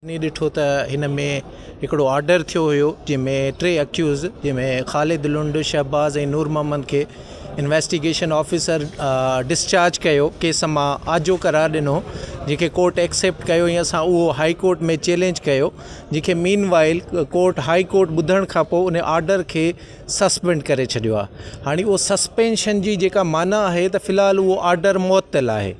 ائين ڏٺو ته هن ۾ هڪڙو آرڊر ٿيو هيو جنهن ۾ ٽي اڪيوز جنهن ۾ خالد لنڊ شهباز ۽ نور محمد کي انويسٽيگيشن آفيسر ڊسچارج ڪيو ڪيس مان آجو قرار ڏنو جنهن کي ڪورٽ ايڪسيپٽ ڪيو ۽ اسان اهو هائي ڪورٽ ۾ چيلينج ڪيو جنهن کي meanwhile court high court ٻڌڻ کان پوء ان آرڊر کي سسپينڊ ڪري ڇڏيو آهي هاڻي اهو سسپينشن جي جيڪا معنيٰ آهي ته في الحال اهو آرڊر معطل آهي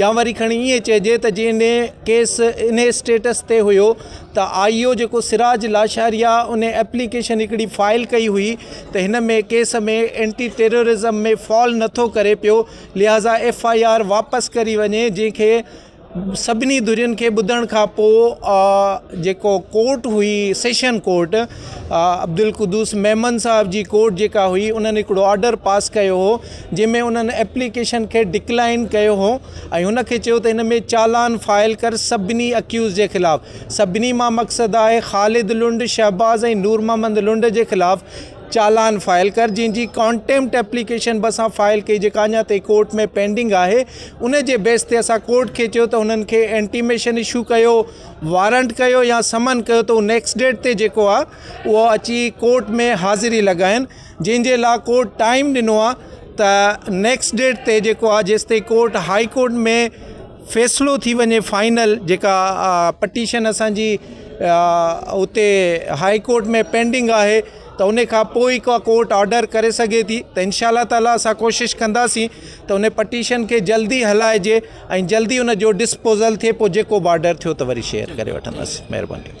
يا وري کڻي ائين چئجي ته جنهن ڏينهن ڪيس ان اسٽيٽس تي هيو ته آء او جيڪو سراج لاشاريا ان ايپليڪيشن هڪڙي فائل ڪئي هئي ته هن ۾ ڪيس ۾ اينٽي ٽيررازم ۾ فال نٿو ڪري پيو لهٰذا ايف آء آر واپس ڪري وڃي جنهن کي سڀني ڌرين کي ٻڌڻ کان پوء جيڪو ڪورٽ هئي سيشن ڪورٽ عبدالقدوس ميمڻ صاحب جي ڪورٽ جيڪا هئي انهن هڪڙو آرڊر پاس ڪيو هو جنهن ۾ انهن ايپليڪيشن کي ڊڪلائين ڪيو هو ۽ هن کي چيو ته هن ۾ چالان فائل ڪر سڀني اڪيوزڊ جي خلاف سڀني مان مقصد آهي خالد لنڊ شهباز ۽ نور محمد لنڊ جي خلاف چالان فائل ڪر جنهن جي ڪانٽيمپٽ ايپليڪيشن به اسان فائل ڪئي جيڪا اڃا تائين ڪورٽ ۾ پينڊنگ آهي ان جي بيس تي اسان ڪورٽ کي چيو ته انهن کي انٽيميشن اشو ڪيو وارنٽ ڪيو يا سمن ڪيو ته هو نيڪسٽ ڊيٽ تي جيڪو آهي اهو اچي ڪورٽ ۾ حاضري لڳائين جنهن جي لا ڪورٽ ٽائيم ڏنو آ ته نيڪسٽ ڊيٽ تي جيڪو آ جيس تائين ڪورٽ هائي ڪورٽ ۾ فيصلو ٿي وڃي فائنل جيڪا پٽيشن اسان جي اتي هائي ڪورٽ ۾ پينڊنگ آهي ته ان کان پوء ئي ڪا ڪورٽ آرڊر ڪري سگهي ٿي ته انشاء الله تعالٰي اسان ڪوشش ڪنداسين ته ان پٽيشن کي جلدي هلائجي ۽ جلدي ان جو ڊسپوزل ٿئي پوء جيڪو بارڊر ٿيو ته وري شيئر ڪري وٺنداسين مهرباني